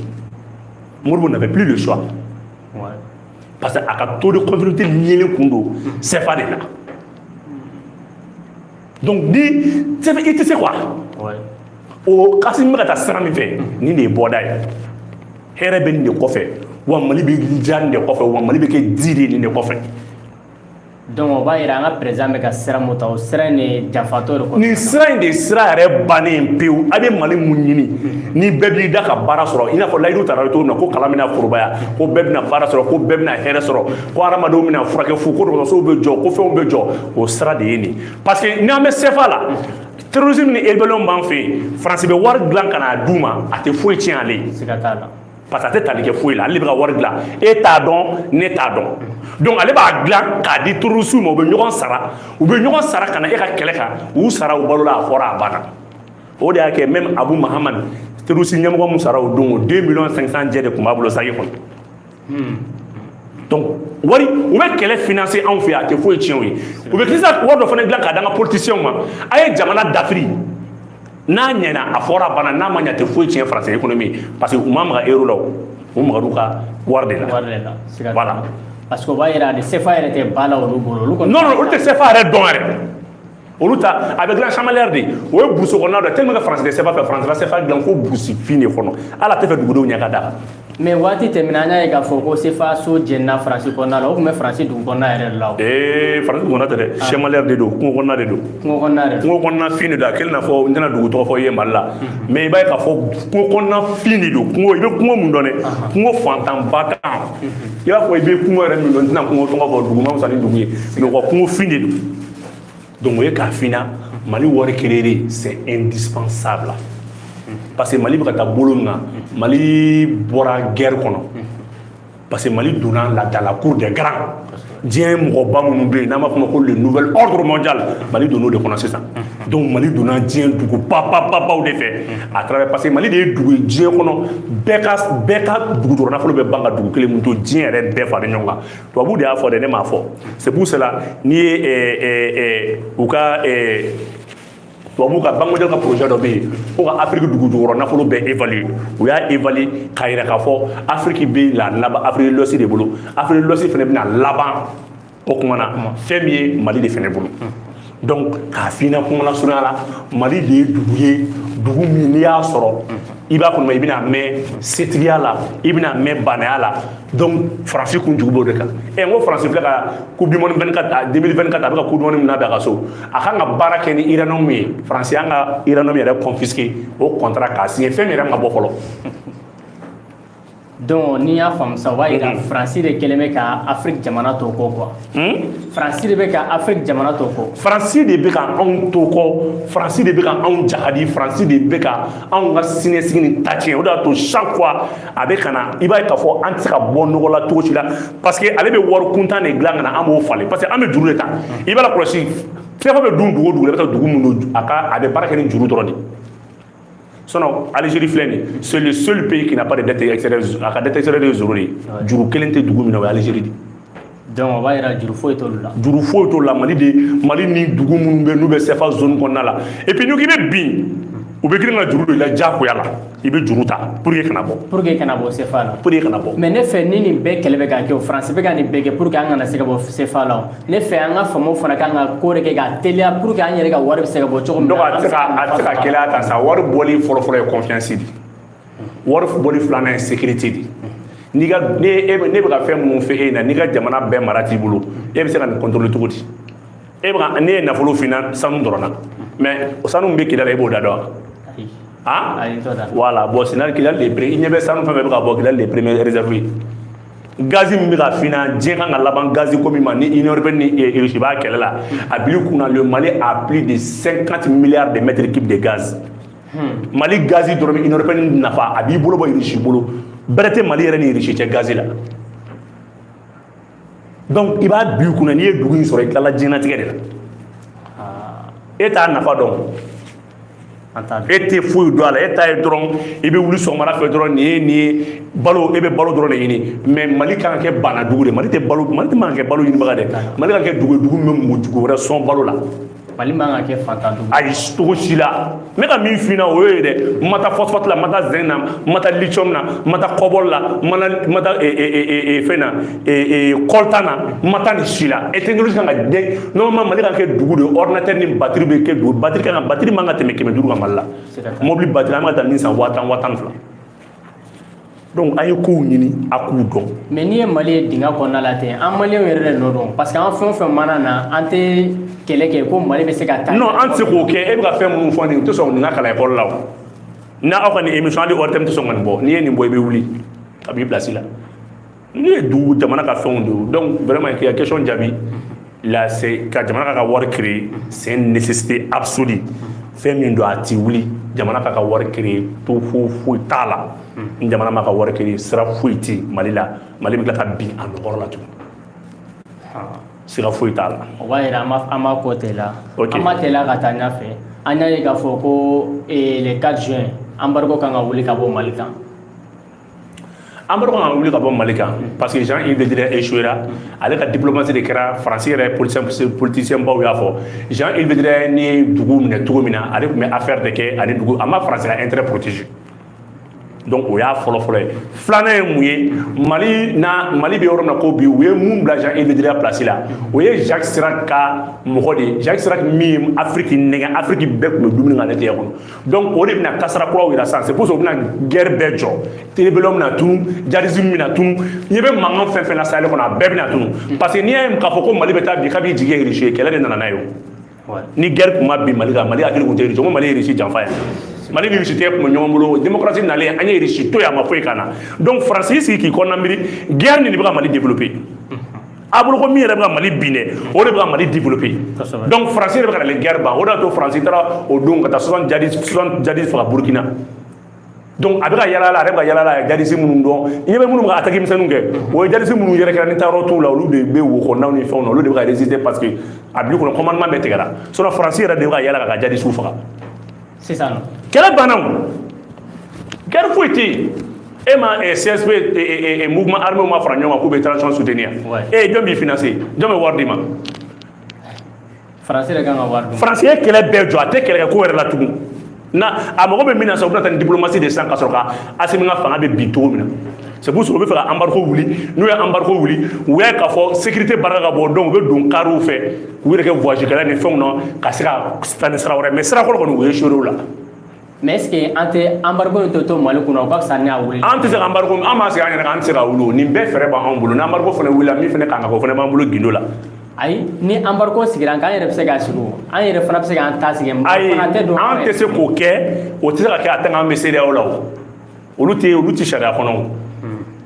modibo n'avait plus le choix parce que a ka taux de convertibilité liélen kun don sɛfa de la donc ni sɛbɛ i tɛ se quoi o k'asimi bɛ ka taa sira min fɛ nin de ye bɔda ye hɛrɛ bɛ nin de kɔfɛ wa mali bɛ diya nin de kɔfɛ wa mali bɛ kɛ di de nin de kɔfɛ Donc o b'a jira an ka président bɛ ka sira min ta o sira in de jafatɔ de nin sira in de sira yɛrɛ bannen pewu a bɛ mali mun ɲini ni bɛɛ b'i da ka baara sɔrɔ i n'a fɔ layidu taara cogo na ko kalan bɛna forobaya ko bɛɛ bɛna baara sɔrɔ ko bɛɛ bɛna hɛrɛ sɔrɔ ko hadamadenw bɛna furakɛ fu ko sow bɛ jɔ ko fɛnw bɛ jɔ o sira de ye nin parce que n'an bɛ sefa la terrorisme ni rébellion b'an fɛ yen faransi bɛ wari dilan k'a d'u ma a tɛ foyi tiɲɛ ale parce que a tɛ tali kɛ foyi la ale de bɛ ka wari dilan e t'a dɔn ne t'a dɔn donc ale b'a dilan k'a di terroristew ma u bɛ ɲɔgɔn sara u bɛ ɲɔgɔn sara ka na e ka kɛlɛ kan u sara u balola a fɔra a banna o de y'a kɛ même abu mahamad terroriste ɲɛmɔgɔ min sara o don o 2 millions 500 jɛ de kun b'a bolo saki kɔnɔ hmm. donc wari u bɛ kɛlɛ financer anw fɛ a tɛ foyi tiɲɛ u ye u bɛ kisa wari dɔ fana dilan k'a d'an ka politiciens ma a ye jamana dafiri n'a ɲɛna a fɔra bana n'a ma ɲɛ a tɛ foyi tiɲɛ faransi économie parce que u ma maga euro la u magara u ka wari de la voilà parce que o b'a yira de sefa yɛrɛ tɛ ba la olu bolo olu kɔni non non olu tɛ sefa yɛrɛ dɔn yɛrɛ olu ta a bɛ dilan Chamalières de o ye burusi kɔnɔna dɔ ye tellement que faransi tɛ sefa fɛ faransi la sefa dilan fo burusi fin de kɔnɔ hali a t'a fɛ dugudenw ɲɛ ka da mais waati tɛmɛna an y'a ye k'a fɔ ko CFA so jɛnna faransi kɔnɔna la o tun bɛ faransi dugu kɔnɔna yɛrɛ la ee faransi kɔnɔna tɛ dɛ ah. chamalières de don kungo kɔnɔna de don kungo kɔnɔna de kungo kɔnɔna fin de don a kɛlen n'a fɔ n tɛna dugu tɔgɔ fɔ i ye mali la mais i b'a ye k'a fɔ kungo kɔnɔna fin de don kungo i bɛ kungo mun dɔn dɛ kungo fantanba tan i b'a fɔ i bɛ kungo yɛrɛ min dɔn n tɛna kungo tɔgɔ fɔ dugu ma fisa ni dugu ye mais u ka kungo fin de don donc o ye k'a f'i na mali wari créer c'est indispensable la parce que mali bɛ ka taa bolo min na mali bɔra guerre kɔnɔ parce que mali donna la dans la cour des grands diɲɛ mɔgɔba minnu bɛ yen n'an b'a fɔ o ma ko le nouvel ordre mondial mali donn'o de kɔnɔ sisan donc mali donna diɲɛ dugu babababaw de fɛ à travers parce que mali de ye dugu ye diɲɛ kɔnɔ bɛɛ ka bɛɛ ka dugu jukɔrɔ nafolo bɛ ban ka dugu kelen min to diɲɛ yɛrɛ bɛɛ fara ɲɔgɔn kan tubabuw de y'a fɔ dɛ ne m'a fɔ c'est pour cela n'i ye eh, eh, eh, u ka tubabu ka banque mondiale ka projet dɔ bɛ yen ko ka afiriki dugu jukɔrɔ nafolo bɛɛ évalue u y'a évalue k'a yira k'a fɔ afiriki bɛna laban afiriki de l'ouest de bolo afiriki de l'ouest fana bɛna laban o kuma na fɛn min ye mali de fana bolo donc k'a f'i na kuma lasurunya la mali de ye dugu ye dugu min n'i y'a sɔrɔ i b'a kɔnɔ i bɛna mɛn setigiya la i bɛna mɛn baanaya la donc faransi kun jugu b'o de kan ɛ n ko faransi filɛ ka coupe du monde 24 2024 a bɛ ka coupe du monde min labɛn a ka so a kan ka baara kɛ ni uranium ye faransi y'an ka uranium yɛrɛ confisquer o contrat k'a signer fɛn min yɛrɛ ma bɔ fɔlɔ Donc n'i y'a faamu sa o b'a jira faransi de kɛlen bɛ ka afiriki jamana to kɔ quoi faransi de bɛ ka afiriki jamana to kɔ faransi de bɛ ka anw to kɔ faransi de bɛ ka anw jahadi faransi de bɛ ka anw ka siniɲɛsigi ni ta tiɲɛ o de y'a to chaque fois a bɛ ka na i b'a ye k'a fɔ an tɛ se ka bɔ nɔgɔ la cogo si la parce que ale bɛ wari kuntan de dilan ka na an b'o falen parce que an bɛ juru de ta i b'a lakɔlɔsi CFA bɛ dun dugu o dugu la i bɛ taa dugu min na a bɛ baara kɛ ni juru dɔrɔn de sinon Algérie filɛ nin c'est le seul pays qui n'a pas de dette extérieure a ka dette extérieure ye zéro de ye juru kelen tɛ dugu min na o ye Algérie de ye donc o b'a yira juru foyi t'olu la juru foyi t'olu la Mali de Mali ni dugu minnu bɛ n'u bɛ CFA zone kɔnɔna la et puis n'i ko k'i bɛ bin u bɛ girin ka juru don i la diyagoya la i bɛ juru ta pour que kana bɔ pour que kana bɔ CFA la pour que kana bɔ mais ne fɛ ni nin bɛɛ kɛlɛ bɛ ka kɛ o France bɛ ka nin bɛɛ kɛ pour que an kana se ka bɔ CFA la o ne fɛ an ka faamaw fana kan ka ko de kɛ ka teliya pour que an yɛrɛ ka wari bɛ se ka bɔ cogo min na donc a tɛ se ka a tɛ se ka gɛlɛya ta sa wari bɔli fɔlɔfɔlɔ ye confiance de wari bɔli filanan ye sécurité de n'i ka ne e ne bɛ ka fɛn minnu f'e na n'i ka jamana bɛɛ mara t'i bolo e bɛ se ka nin contrôler cogo di e bɛ ka ne ye nafolo f'i na sanu dɔrɔn na mais o sanu min bɛ kidali la e b'o da dɔn wa han voilà bon sinon kidali de ye i ɲɛ bɛ sanu fɛn fɛn bɛ ka bɔ kidali de ye premier réserve ye gazi min bɛ ka fina diɲɛ kan ka laban gazi ko min ma ni union européenne ni eh, russie b'a kɛlɛ la a bil'i kun na le mali a plus de 50 milliards de mètres cubes de gaz hmm. mali gazi dɔrɔn bɛ union européenne nafa a b'i bolo bɔ russie bolo bɛrɛ tɛ mali yɛrɛ ni russie cɛ gazi la donc i b'a bil'i kun na n'i ye dugu in sɔrɔ i tilala diɲɛnatigɛ de la ah. e t'a nafa dɔn e tɛ foyi dɔn a la e ta ye dɔrɔn i bɛ wuli sɔgɔmada fɛ dɔrɔn nin ye nin ye balo e bɛ balo dɔrɔn de ɲini mais mali kan ka kɛ baana dugu de mali tɛ balo mali tɛ man ka kɛ balo ɲinibaga dɛ mali ka kɛ dugu dugu min bɛ mɔgɔ dugu wɛrɛ sɔn balo la mali man ka kɛ faantan dugu ayi cogo si la n bɛ ka min f'i ɲɛna o ye dɛ n ma taa phosphate la n ma taa zinc na n ma taa lithium na n ma taa cobalt la n ma taa fɛn na coltan na n ma taa nin si la e technologie kan ka dɛ normalement mali ka kɛ dugu de ordinateur ni batiri bɛ kɛ dugu batiri kan ka batiri man ka tɛmɛ kɛmɛ duuru kan mali la mobili batiri an bɛ ka taa min san waa tan waa tan fila donc an ye kow ɲini a k'u dɔn mais n'i ye mali ye dingɛ kɔnɔna la ten an maliyɛnw yɛrɛ de nɔ don parce que an fɛn o fɛn mana na an tɛ kɛlɛ kɛ ko mali bɛ se ka taa non an tɛ se k'o kɛ e bɛ ka fɛn minnu fɔ nin u tɛ sɔn nin ka kalan ekɔli la o n'a aw ka nin émission hali ORTM tɛ sɔn ka nin bɔ n'i ye nin bɔ i bɛ wuli ka b'i place la nin ye dugu jamana ka fɛnw de ye donc vraiment k'i ka question jaabi la c'est que jamana k'a ka wari créer c'est une nécessité absolue fɛn min don a ti wuli jamana k'a ka wari créer to fo foyi t'a la ni jamana m'a ka wari créer sira foyi ti mali la mali bɛ tila ka bin a nɔ kɔrɔ la tuguni sira foyi t'a la o b'a yira an b'a an b'a kɔ teliya Ok. an b'a teliya ka taa ɲɛfɛ an y'a ye k'a fɔ ko eh, le 4 juin embargo kan ka wuli ka bɔ mali kan embargo kan ka wuli ka bɔ mali kan parce que jean yves le drian échouera ale ka diplomatie de kɛra faransi yɛrɛ politicienbaw y'a fɔ jean yves le drian ye dugu minɛ cogo min na ale tun bɛ affaire de kɛ ani dugu a ma faransi ka intérêt protéger donc o y'a fɔlɔ fɔlɔ ye filanan ye mun ye mali na mali bɛ yɔrɔ min na ko bi u ye mun bila jean yves le drian place la o ye jacques chirac ka mɔgɔ de ye jacques chirac min ye afiriki nɛgɛn afiriki bɛɛ tun bɛ dumuni k'ale tɛgɛ kɔnɔ donc o de bɛna ka sira kuraw yira sisan c'est pour ça u bɛna guerre bɛɛ jɔ rébellion bɛna tunu djihadisme bɛna tunu i ɲɛ bɛ mankan fɛn fɛn na sahel kɔnɔ a bɛɛ bɛna tunu parce que n'i y'a ye k'a fɔ ko mali bɛ taa bi k'a b'i jigi ye irisi ye kɛlɛ de nana n'a ye o ni guerre tun ma bin mali kan mali hakili tun tɛ irisi ko mali ye irisi janfa yen mali ni russie de tun bɛ ɲɔgɔn bolo démocratie nalen an ye irisi to yen a ma foyi k'an na donc faransi y'i sigi k'i kɔnɔna miiri guerre nin de bɛ ka mali développer a bolo ko min yɛrɛ bɛ ka mali bin dɛ o de bɛ ka mali développer donc faransi yɛrɛ bɛ ka na le guerre ban o de y'a to faransi taara o don ka taa soixante jadi soixante jadisi faga burkina donc a bɛ ka yala la a yɛrɛ bɛ ka yala la a ye jadisi minnu dɔn i ɲɛ bɛ minnu bɛ ka attaque misɛnninw kɛ o ye jadisi minnu yɛrɛ kɛra ni taayɔrɔ t'u la olu de bɛ wo kɔnɔnaw ni fɛnw na olu de bɛ ka résister parce que a b'i kɔnɔ commandement bɛɛ tigɛra sinon faransi yɛrɛ de bɛ ka yala k'a ka jadisiw faga sisan kɛlɛ banna guerre foyi tɛ yen e ma eh, CSP eh, eh, mouvement armé ma fara ɲɔgɔn kan k'u bɛ transition soutenir e jɔn b'i financer jɔn bɛ wari d'i ma faransi yɛrɛ kan ka wari dun faransi ye kɛlɛ bɛɛ jɔ a tɛ kɛlɛ kɛ ko wɛrɛ la tugun na a mago bɛ min na sa u bɛna taa ni diplomatie de san ka sɔrɔ ka asimi ka fanga bɛ bin cogo min na C'est pour ça u bɛ fɛ ka embargo wuli n'u ye embargo wuli u y'a ye k'a fɔ sécurité barika ka bon donc u bɛ don kariw fɛ k'u yɛrɛ kɛ voyage kɛla ni fɛnw na ka se ka taa ni sira wɛrɛ mais sira kɔrɔ kɔni u ye échouer o la. mais est ce que an tɛ embargo in to to mali kunna o ka fisa ni a wuli. an tɛ se ka embargo an b'a sigi an yɛrɛ kan an tɛ se ka wuli o nin bɛɛ fɛɛrɛ b'an bolo ni embargo fana wulila min fana kan ka kɛ o fana b'an bolo gindo la. ayi ni embargo sigira an kan an yɛrɛ bɛ se k'a sigi o an yɛrɛ fana bɛ se k'an ta sigi. ayi an tɛ se k'o kɛ o tɛ se ka kɛ a tɛ k'an bɛ CEDEAO la o. olu tɛ olu tɛ sariya kɔnɔ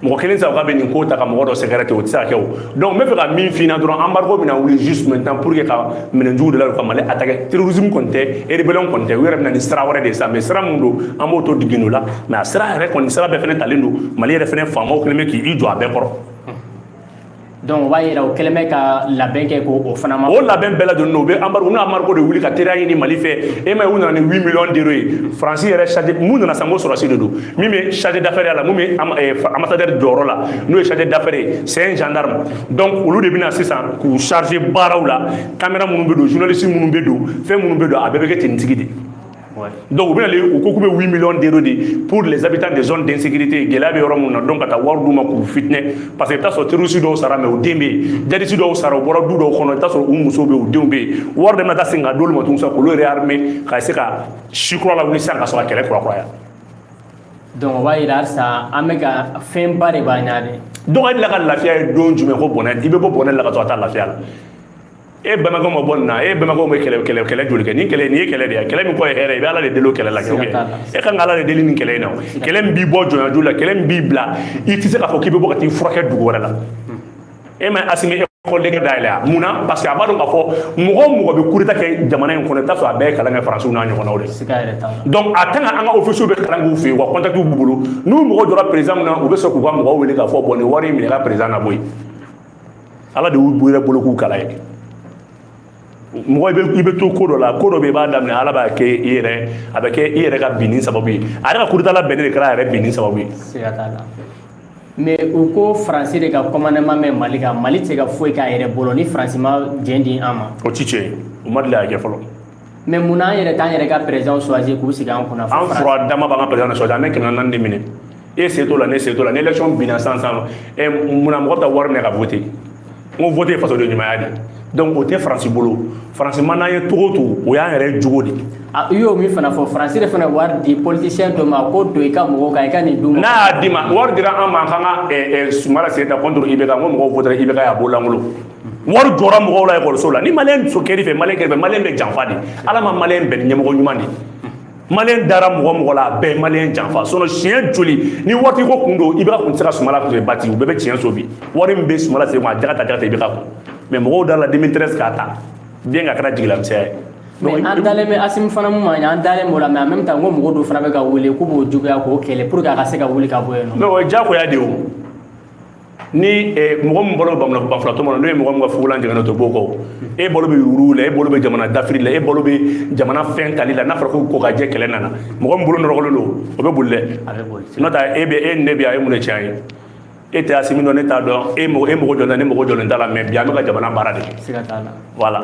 mɔgɔ kelen sa ka bɛ nin ko ta ka mɔgɔ dɔ sɛgɛrɛ ten o tɛ se ka kɛ o donc n bɛ fɛ ka min f'i ɲɛna dɔrɔn embargo bɛna wuli juste maintenant pour que ka minɛn jugu de la u ka mali attaquer terrorisme kɔni tɛ rébellion kɔni tɛ u yɛrɛ bɛna ni sira wɛrɛ de ye sa mais sira min don an b'o to de gindo la mais a sira yɛrɛ kɔni sira bɛɛ fana talen don mali yɛrɛ fana FAMaw kɛlen bɛ k'i jɔ a bɛɛ kɔrɔ Dɔnku b'a jira o kɛlen ka labɛn kɛ o fana ma o labɛn bɛɛ don u bɛ amadu n' amadu de wuli ka teri ɲini mali fɛ e ma u nana ni mi ye faransi yɛrɛ sadi minnu nana san ko sɔrɔsi de don min bɛ sadi dafeɛrɛ a la ansari jɔyɔrɔ la n'o ye sadi daɛrɛ ye sɛ janka ma dɔnku olu de bɛna sisan k'u sarize baaraw la kamalen minnu bɛ don zvinasi minnu bɛ don fɛn minnu bɛ don a bɛɛ bɛ kɛ ttigi de Ouais. Donc u bɛna le u ko k'u bɛ 8 millions d'euros di pour les habitants des zones d'insécurité gɛlɛya bɛ yɔrɔ minnu na donc ka taa wari d'u ma k'u fitinɛ parce que i bɛ taa sɔrɔ terroriste dɔw sara mais u den bɛ yen djihadiste dɔw sara u bɔra du dɔw kɔnɔ i bɛ taa sɔrɔ u musow bɛ yen u denw bɛ yen wari de bɛna taa segin ka d'olu ma tuguni sisan k'olu réarmer ka se ka si kura lawuli sisan ka sɔrɔ ka kɛlɛ kurakuraya donc o b'a jira halisa an bɛ ka fɛnba de b'an ɲɛ de donc e delila ka lafiya ye don jumɛn ko bɔnɛ i bɛ bɔ bɔnɛ la ka to ka taa lafiya la e bɛnbakɛ ma bɔ nin na e bɛnbakɛw bɛ kɛlɛ kɛlɛ kɛlɛ joli kɛ ni kɛlɛ n'i ye kɛlɛ de ye kɛlɛ min kɔ ye hɛrɛ i bɛ ala de deli o kɛlɛ la kɛ e ka kan ka ala de deli nin kɛlɛ in na kɛlɛ min b'i bɔ jɔnyajuru la kɛlɛ min b'i bila i tɛ se k'a fɔ k'i bɛ bɔ ka t'i furakɛ dugu wɛrɛ la e ma asimi école de guerre dayɛlɛ a mun na parce que a b'a dɔn k'a fɔ mɔgɔ o mɔgɔ bɛ coup d'état kɛ jamana in kɔnɔ i t'a sɔrɔ a bɛɛ ye kalan kɛ faransiw n'a ɲɔgɔnnaw de donc a tant que an ka officierw bɛ kalan k'u fɛ yen wa contactw b'u bolo n'u mago jɔra président min na u bɛ sɔrɔ k'u ka mɔgɔw wele k'a fɔ bon nin wari in minɛ ka président na bɔ yen ala de y'u yɛrɛ bolo k'u kala ye mɔgɔ i bɛ to ko dɔ la ko dɔ bɛ i b'a daminɛ ala b'a kɛ i yɛrɛ a bɛ kɛ i yɛrɛ ka binni sababu ye a yɛrɛ ka coup d'état labɛnnen de kɛra a yɛrɛ binni sababu ye siga t'a la mais u ko faransi de ka commandement bɛ mali kan mali tɛ se ka foyi k'a yɛrɛ bolo ni faransi ma jɛn di an ma o ti tiɲɛ ye u ma deli k'a kɛ fɔlɔ mais munna an yɛrɛ t'an yɛrɛ ka président choisir k'u sigi an kunna an fura dama b'an ka président choisir an bɛ kɛmɛ naani de minɛ e se t'o la ne se t'o la ni election binna sisan munna mɔgɔ bɛ taa wari minɛ ka vote n ko vote ye fasoden ɲumanya de ye donc o tɛ faransi bolo faransi ma n'an ye togo to o y'an yɛrɛ jogo de i y'o min fana fɔ faransi de fana wari di politisiyɛn dɔ ma ko don i ka mɔgɔw kan i ka nin d'u ma n'a y'a d'i ma wari dira an ma k'an ka sumala sise ta contre ibk n ko mɔgɔw votera ibk y'a bolo lankolon wari jɔra mɔgɔw la ekɔliso la ni maliyɛn muso kɛr'i fɛ maliyɛn kɛr'i fɛ maliyɛn bɛ janfa de ala ma maliyɛn bɛn ni ɲɛmɔgɔ ɲuman de ye maliyɛn dara mɔgɔ mɔgɔ la a bɛɛ ye maliyɛn janfa sinɔn siɲɛ joli ni wari ko kun don ibk kun tɛ se ka sumala bati u bɛɛ bɛ tiɲɛso bi wari min bɛ sumala sise kun a jaka tɛ jaka tɛ ibk kun mais mɔgɔw dar'a la deux mille treize k'a ta dɛ nk'a kɛra jigilamisɛnya ye mais an dalen bɛ asimi fana mun ma an dalen b'o la mais en même temps n ko mɔgɔ dɔ fana bɛ ka wuli k'u b'o juguya k'o kɛlɛ pour que a ka se ka wuli ka bɔ yen non mais o ye diyagoya de ye o ni eh, mɔgɔ min balo bɛ banfilatɔ ma n'o ye mɔgɔ min ka fugulan jɛngɛnna to b'o kɔ e balo bɛ yurugu la e balo bɛ jamana dafiri la e balo bɛ jamana fɛn tali la n'a fɔra ko kokajɛ kɛlɛ nana mɔgɔ min bolo nɔrɔgɔlen don o bɛ boli dɛ n'o tɛ e bɛ e ni ne bɛ yan e mun de tiɲɛ ye e tɛ asimi dɔn ne t'a dɔn e mɔgɔ e mɔgɔ jɔlen ne mɔgɔ jɔlen t'a la mais bi an bɛ ka jamana baara de kɛ voilà